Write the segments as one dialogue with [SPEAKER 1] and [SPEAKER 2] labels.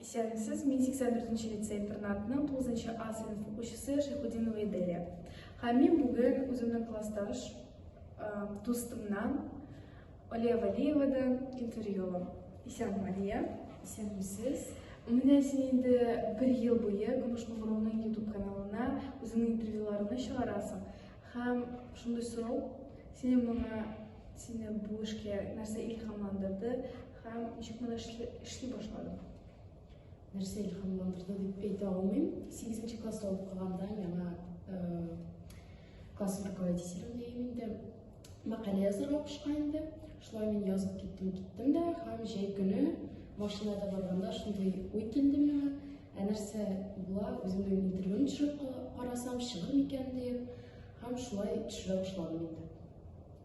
[SPEAKER 1] Исәнмесез, мин 84 нче лицей-интернатның 9 нчы А сыйныф укучысы Шәйхудинова Иделия. Һәм мин бүген үземнең классташ дустымнан Олия Валиевадан интервью алам. Исән Мария, исәнмесез.
[SPEAKER 2] Менә син
[SPEAKER 1] инде бер ел буе Көмеш Куңгыруның YouTube каналына үзеңнең интервьюларыңны чыгарасың. Һәм шундый сорау, сине моңа сине бу эшкә нәрсә илһамландырды Һәм ничек менә эшли башладым. Нәрсә
[SPEAKER 2] илһамландырды дип әйтә алмыйм. 8 нче класста укыганда миңа класс руководителем дигән инде мәкалә язырга кушкан инде. Шулай мин язып киттем, киттем дә һәм җәй көне машинада барганда шундый уй килде миңа. Ә нәрсә була, үземнең интервьюны төшереп карасам, чыгыр микән дип. Һәм шулай төшерә башладым инде.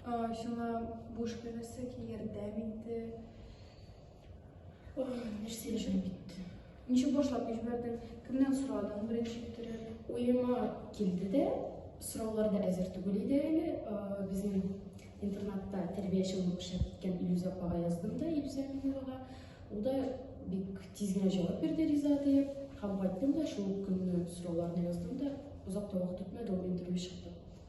[SPEAKER 2] Сиңа
[SPEAKER 1] бу эшкә нәрсә ярдәм итте?
[SPEAKER 2] Нәрсә эшем китте? Ничек башлап
[SPEAKER 1] җибәрдең? Кемнән сорадың беренче китереп? Уема
[SPEAKER 2] килде дә, сораулар да әзер түгел иде әле. Безнең интернатта тәрбияче булып эшләп киткән Илюз апага яздым да, Илюз Әминовага. Ул да бик тиз генә җавап бирде риза диеп. Һәм кайттым да шул көнне сорауларны яздым да, озак та вакыт үтмәде, ул интервью чыкты.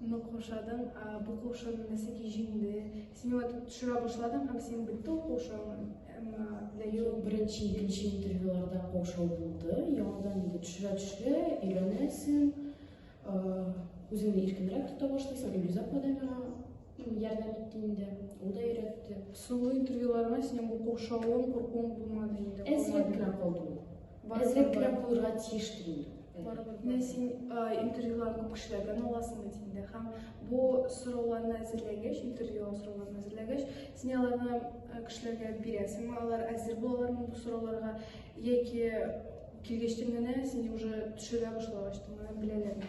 [SPEAKER 1] Ну, кошадың, бу кошын нәсеки җиңде. Син вот төшерә башладың һәм син бетте ул кошың. Юк,
[SPEAKER 2] беренче, икенче интервьюларда кошау булды. Яңадан инде төшерә төшерә, өйрәнәсең, үзеңне иркенрәк тота башлыйсың, Илюза Падамина Ярдәм итте инде, ул да өйрәтте. Соңгы интервьюларыңа
[SPEAKER 1] синең бу куршавың, куркуың булмады инде. Әзрәк кенә калды
[SPEAKER 2] ул. Әзрәк кенә булырга тиештер инде. Менә син
[SPEAKER 1] интервьюлар күп кешеләрдән аласың бит инде һәм бу сорауларны әзерләгәч, интервьюлар сорауларын әзерләгәч, син аларны кешеләргә бирәсеңме, алар әзер булалармы бу сорауларга яки килгәчтен генә сине уже төшерә башлагачтын генә беләләрме?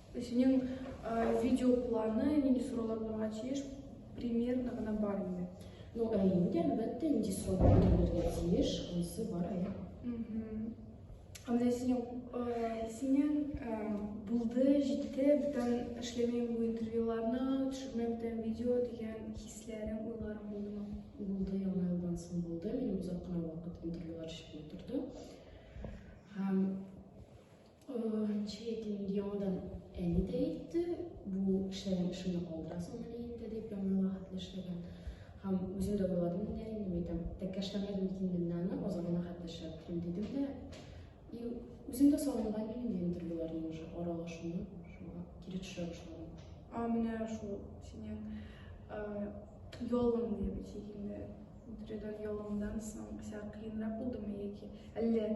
[SPEAKER 2] Синең
[SPEAKER 1] видео планы нинди сорулар булырга тиеш? Примерно гына бар инде. Ну, ә инде
[SPEAKER 2] әлбәттә нинди сорулар булырга тиеш, онсы бар әле. Ә
[SPEAKER 1] менә синең синең булды, җитте, бүтән эшләмим бу интервьюларны, төшермәм бүтән видео дигән хисләрең, уйларың булдымы? Булды, яңа
[SPEAKER 2] елдан соң булды. Мин озак кына вакыт интервьюлар чыгып утырды. Һәм Чейтин яңадан әни дә әйтте, бу эшләгән эшемне калдырасың әле инде дип, яңа хәтле эшләгән. Һәм үзем дә уйладым инде әле, мин әйтәм, тәккәшләмәдем микән мин аны, азагына хәтле эшләп торыйм дидем дә. И үзем дә сагынган идем инде интервьюларның уже аралашуны, шуңа кире төшә башладым. А менә шул
[SPEAKER 1] синең ялың дип җигенде. Интервьюдан ялыңдан соң сиңа кыенрак булдымы яки әллә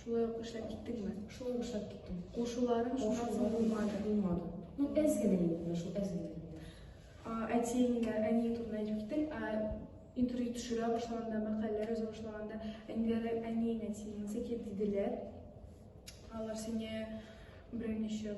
[SPEAKER 1] Шулай ук эшләп киттеңме? Шулай ук эшләп киттем.
[SPEAKER 2] Кушуларың шуннан
[SPEAKER 1] соң булмады. Булмады. Ну, әз генә
[SPEAKER 2] инде, шул әз генә. Әтиеңә,
[SPEAKER 1] әниең турында әйтеп киттең, ә интервью төшерә башлаганда, мәкаләләр яза башлаганда, әниләре, әниең, әтиең, сәкет диделәр. Алар сине берничә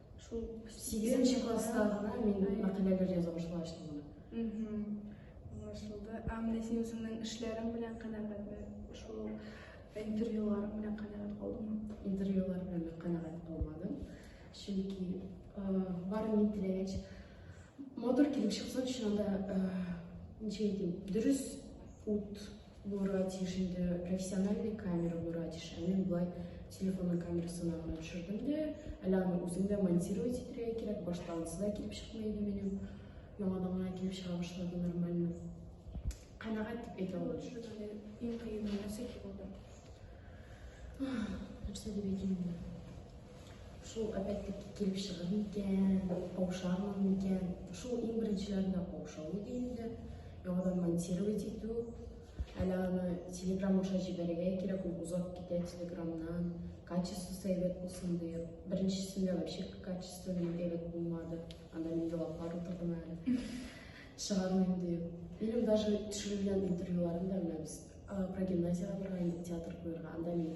[SPEAKER 2] Шул
[SPEAKER 1] сигезенче
[SPEAKER 2] класста гына мин мәкаләләр яза башлаштым. Аңлашылды.
[SPEAKER 1] Ә менә син үзеңнең эшләрең белән канәгатьме? Шул интервьюлар белән канәгать калдыңмы? Интервьюлар белән
[SPEAKER 2] канәгать калмадым. Чөнки бар мин теләгәч матур килеп чыксын, чынында ничек әйтим, дөрес ут Булырга тиеш инде профессиональный камера булырга тиеш. Ә мин болай телефонның камерасына гына төшердем дә, әле аны үзем дә монтировать итәргә кирәк. Башта анысы да килеп чыкмый иде минем. Яңадан гына килеп чыга башлады нормально. Канәгать дип әйтә алам. Иң кыены
[SPEAKER 1] нәрсә булды?
[SPEAKER 2] Нәрсә дип әйтим инде? Шул опять-таки килеп чыгыр микән, каушармын микән? Шул иң беренчеләрендә каушау иде инде. Яңадан монтировать итү. Әле аны телеграм аша җибәрергә кирәк, ул озак китә телеграмнан. Качество әйбәт булсын диеп. Беренчесендә вообще качество әйбәт булмады. Анда мин елаплар утырдым әле. Чыгармыйм диеп. Минем даже төшерелгән интервьюларым да менә без прогимназияга барган идек театр куярга. Анда мин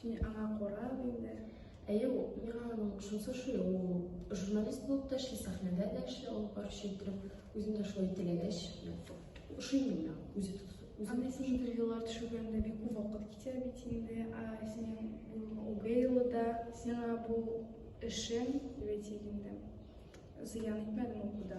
[SPEAKER 2] Син аңа
[SPEAKER 1] карап инде. Әйе, миңа
[SPEAKER 2] аның шунысы шул, ул журналист булып та эшли, сәхнәдә дә эшли, алып баручы иттереп, үзем дә шулай теләгәч, ошый миңа үзе тоту. Анда син интервьюлар
[SPEAKER 1] төшергәндә бик күп вакыт китә бит инде, ә синең Угейлы да сиңа бу эшең, дип әйтик инде, зыян итмәдеме укуда?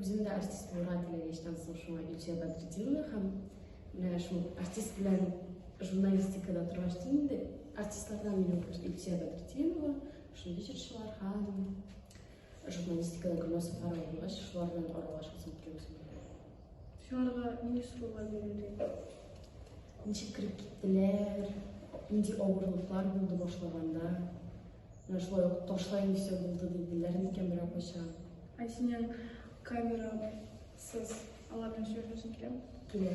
[SPEAKER 2] Үзем дә артист булырга теләгәчтән соң шуңа Илчә Бәдретдинова һәм менә шул артист белән журналистикада торгач та инде артистлардан минем бер Илчә Бәдретдинова, шундый җырчылар һәм журналистикада Гөлназ Сафарова булгач, шулар белән аралашасым килә үзем.
[SPEAKER 1] Шуларга нинди сораулар бирелде?
[SPEAKER 2] Ничек кереп киттеләр? Нинди авырлыклар булды башлаганда? Менә шулай ук ташлайм дисә булды диделәр микән берәү кайчан? Ә синең
[SPEAKER 1] камерасыз алар белән сөйләшәсең киләме? Килә.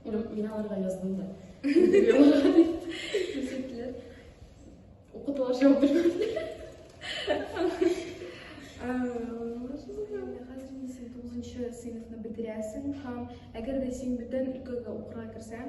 [SPEAKER 2] Мин, мин аларга яздым да. Күрсәттеләр. Укытулар җавап
[SPEAKER 1] бирмәде. сыйныфны бетерәсең һәм әгәр дә син бүтән өлкәгә укырга керсәң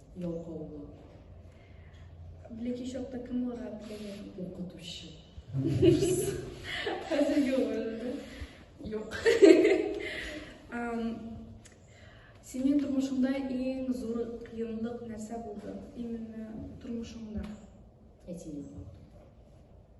[SPEAKER 1] Ялкаулы. Бүлеки чакта кем булырга теләгән? Укытучы. Хәзерге өмердә. Юк. Синең тормышыңда иң зур кыенлык нәрсә булды? Именно тормышыңда. Әтием.